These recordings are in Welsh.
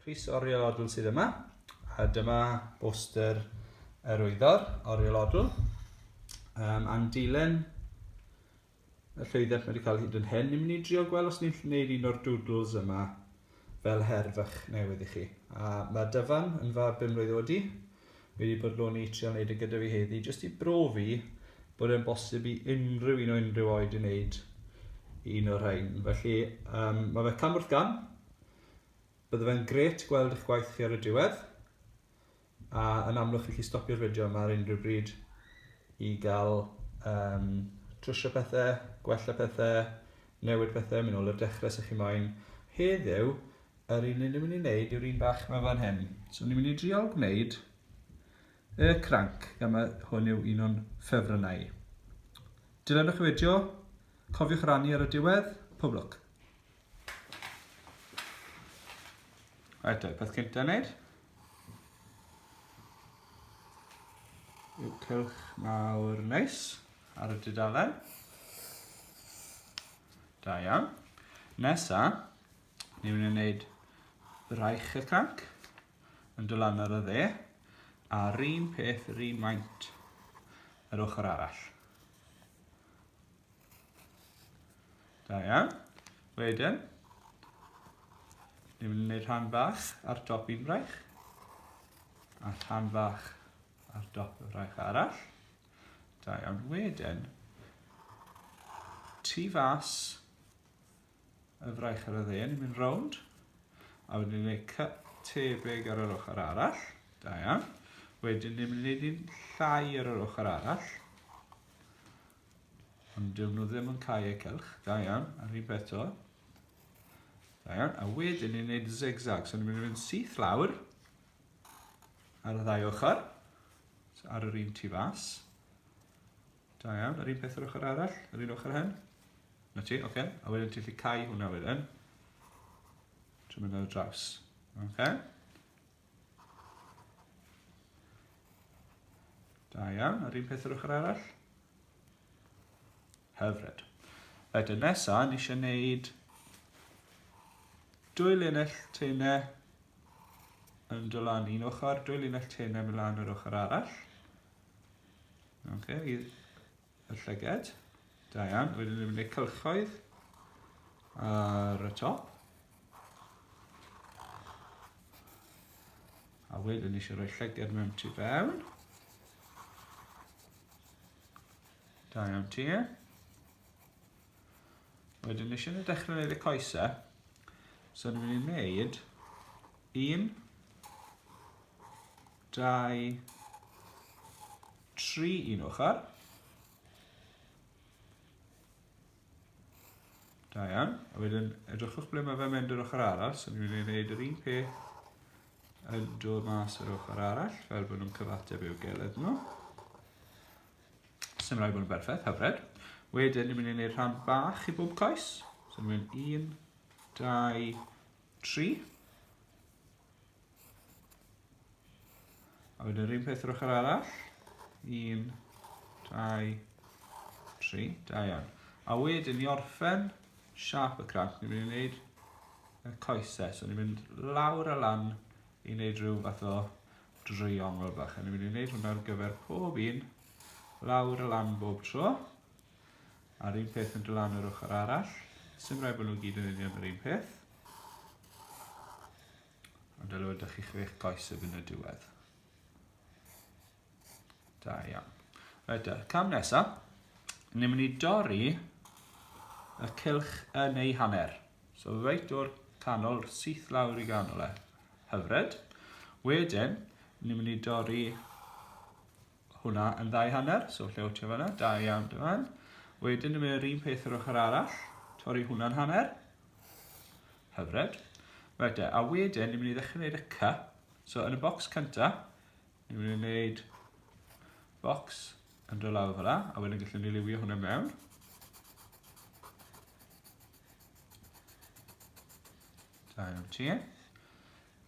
Rhys Oriolodl sydd yma, a dyma boster yr wyddor, Oriolodl. Um, am dilyn y llwyddiant mae wedi cael hyd yn hyn, ni'n mynd i drio gweld os ni'n gwneud un o'r doodles yma fel her fach newydd i chi. A mae Dyfan yn fab bum mlynedd wedi, fi wedi bodloni i trial wneud e gyda fi heddi, jyst i brofi bod e'n bosib i unrhyw un o unrhyw oed i wneud un o'r rhain. Felly, um, mae fe cam wrth gam. Bydde fe'n gret gweld eich gwaith chi ar y diwedd. A yn amlwg chi'n chi stopio'r fideo yma ar unrhyw bryd i gael um, trwsio pethau, gwella pethau, newid pethau, mynd ôl i'r dechrau sy'ch chi moyn. Heddiw, Yr un ni'n mynd i wneud yw'r un bach yma fan hyn. So ni'n mynd i driol gwneud y cranc, gan mae hwn yw un o'n ffefrynnau i. Dilynwch y fideo, cofiwch rannu ar y diwedd, pob lwc! Right, y peth cyntaf wneud yw cylch mawr neis ar y dudalen. Da iawn. Nesa, Ni'n mynd i wneud braich y tanc yn dod lan ar y dde a'r un peth yr un maint yr ochr arall. Da iawn. Wedyn, ni'n mynd i wneud rhan fach ar dop un braich a rhan fach ar dop y braich arall. Da iawn. Wedyn, tu fas y fraich ar y dde, ni'n mynd rownd. A wedyn ni'n gwneud cut tebyg ar yr ochr arall. Da iawn. Wedyn ni'n mynd i wneud un llai ar yr ochr arall. Ond dyn nhw ddim yn cael eu cylch. Da iawn. A'r un peth to. Da iawn. A wedyn ni'n gwneud zigzag. So ni'n mynd i fynd syth lawr ar y ddau ochr. So ar yr un tu fas. Da iawn, yr un peth yr ochr arall, yr un ochr hen. Na ti, oce. Okay. A wedyn ti'n lli cael hwnna wedyn. Trwy mynd ar y draws. Oce. Okay. Da iawn, yr un peth yr ochr arall. Hyfryd. Wedyn nesaf, ni eisiau gwneud dwy linell teine yn dod lan un ochr, dwy linell teine mynd lan yr ochr arall. Ok, i'r y llyged. Da iawn. Wedyn ni'n mynd i'r cylchoedd ar y top. A wedyn ni eisiau rhoi llyged mewn tu fewn. Da iawn ti. E. Wedyn ni eisiau ni dechrau wneud y coesau. So ni'n mynd i wneud un dau, tri un ochr. Da iawn. A wedyn edrychwch ble mae fe mynd yr ochr arall. So ni'n mynd i wneud yr un peth yn dod mas yr ochr arall, fel bod nhw'n cyfateb i'w geled nhw. Sym rhaid bod yn berffaith, hyfryd. Wedyn, ni'n mynd i wneud rhan bach i bob coes. So ni'n mynd un, dau, Tri. A wedyn yr un peth yr ochr arall. Un, dau, tri. Da iawn. A wedyn i orffen siap y cranc, ni'n mynd i wneud y coesau. So ni'n mynd lawr a lan i wneud rhyw fath o dreiongl bach. A ni'n mynd i wneud hwnna ar gyfer pob un lawr a lan bob tro. A'r un peth yn dod lan yr ochr arall. Sym rhaid bod nhw gyd yn union yr un peth. Ond dylai fod chi chi eich goes y yn y diwedd. Da iawn. Rhaid y cam nesaf, ni'n mynd i dorri y cilch yn ei hanner. So reit o'r canol, syth lawr i ganol e. Hyfryd. Wedyn, ni'n mynd i dorri hwnna yn ddau hanner, so lle wtio fanna, da iawn dy fan. Wedyn yn mynd yr un peth yr ochr arall, torri hwnna'n hanner. Hyfryd. Right de, a wedyn ni'n mynd i ddechrau gwneud y cy. So yn y bocs cynta, ni'n mynd i wneud bocs yn dod lawr fel a wedyn gallwn ni liwio hwnna mewn. Da iawn ti.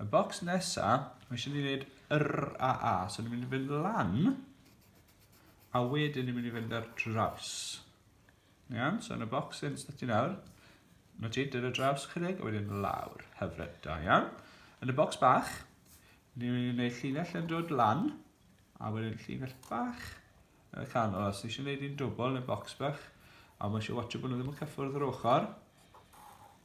Y bocs nesa, mae eisiau ni wneud yr a a. So ni'n mynd i fynd lan, a wedyn ni'n mynd i fynd ar draws. Iawn, so yn y bocs sy'n sdytio nawr, mae ti dyr y draws chydig, a wedyn lawr. Hyfryd, da iawn. Yn y bocs bach, ni'n mynd i wneud llinell yn dod lan, a wedyn llinell bach yn y canol. Os eisiau gwneud un dwbl yn y bocs bach, a mae eisiau watch bod nhw ddim yn cyffwrdd yr ochr,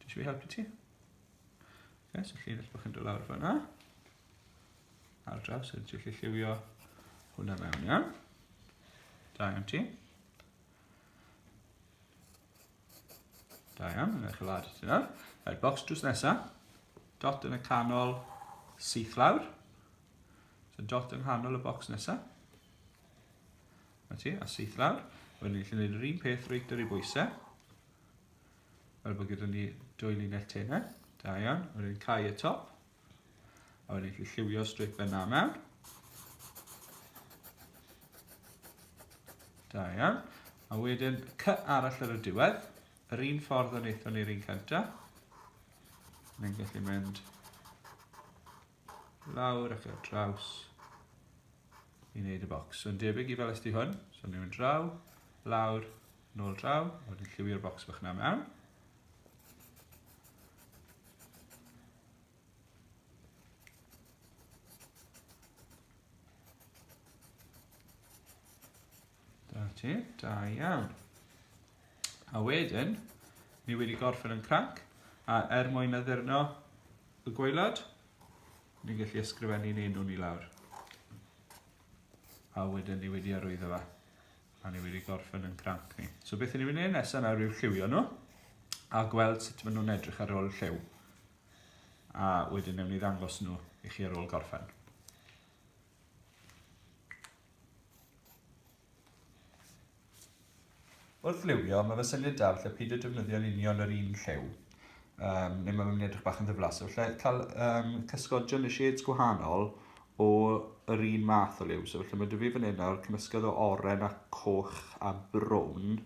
Dwi eisiau helpu ti. Okay, so llinell bach yn dod lawr fanna. Ar draws, so ti'n gallu lliwio hwnna mewn, iawn. Da iawn ti. Da iawn, yna chlad ti nawr. Right, box drws nesa. Dot yn y canol syth lawr. So dot yng nghanol y box nesa. Na ti, a syth lawr. Wedyn ni'n gallu gwneud yr un peth reit ar ei bwysau. Fel bod gyda ni dwy linell tenau. Da iawn. A wedyn cau y top. A wedyn chi lliwio straight fe na mewn. Da iawn. A wedyn cy arall ar y diwedd. Yr un ffordd yn eithon ni'r un cyntaf. Mae'n gallu mynd lawr ac ar draws i wneud y bocs. So yn debyg i fel ysdi hwn, so ni'n mynd draw, lawr, nôl draw, a wedyn lliwio'r bocs bach na mewn. Da ti, da iawn. A wedyn, ni wedi gorffen yn cranc, a er mwyn addurno y gwaelod, ni'n gallu ysgrifennu'n enw ni lawr. A wedyn ni wedi arwyddo fe, a ni wedi gorffen yn cranc ni. So beth ni'n mynd i'n nesaf nawr yw'r lliwio nhw, a gweld sut maen nhw'n edrych ar ôl lliw. A wedyn newn ni ddangos nhw i chi ar ôl gorffen. Wrth liwio, mae fy syniad da falle peidio defnyddio'n union yr un lliw, um, neu mae'n mynd i edrych bach yn ddiflas. So, falle cael um, cysgodion y shades gwahanol o yr un math o liw. So, falle mae dy fi fan hyn nawr cymysgedd o oren a coch a brown,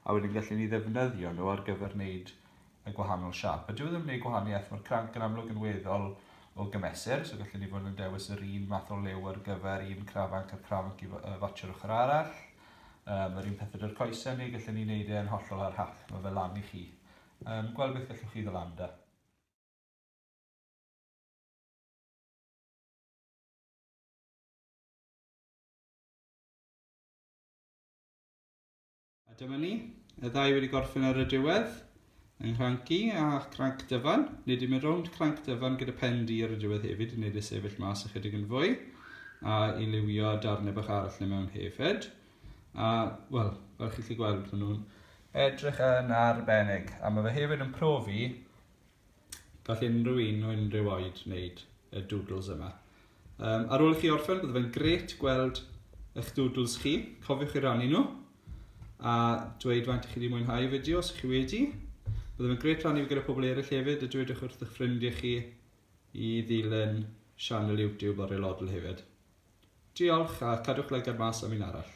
a wedyn gallen ni ddefnyddio nhw ar gyfer wneud y gwahanol siâp. A dyw e ddim yn gwneud gwahaniaeth, mae'r cranc yn amlwg yn weddol o gymesur, so gallwn ni fod yn dewis yr un math o liw ar gyfer un crafanc a chrafanc i fatsio'r ochr arall. Um, yr un pethau dy'r coesau ni, gallwn ni wneud e'n hollol ar hap, mae fe lan i chi. Um, gweld beth gallwch chi ddylanda. A dyma ni, y ddau wedi gorffen ar y diwedd, yng Nghranci a Cranc Dyfan. Nid i'n mynd rownd Cranc Dyfan gyda pen di ar y diwedd hefyd i wneud y sefyll mas ychydig yn fwy a i liwio darnau bach arall le mewn hefyd. A, wel, fel chi'n gallu gweld, maen nhw'n edrych yn arbennig. A mae fe hefyd yn profi Gall unrhyw un o unrhyw oed wneud y doodles yma. Um, ar ôl i chi orffen, bydd fe'n gret gweld eich doodles chi. Cofiwch i rannu nhw a dweud faint chi wedi mwynhau y fideo os chi wedi. Bydd fe'n gret rannu gyda pobl eraill hefyd a dwedwch wrth eich ffrindiau chi i ddilyn sianel YouTube o'r aelodl hefyd. Diolch a cadwch lygad mas am un arall.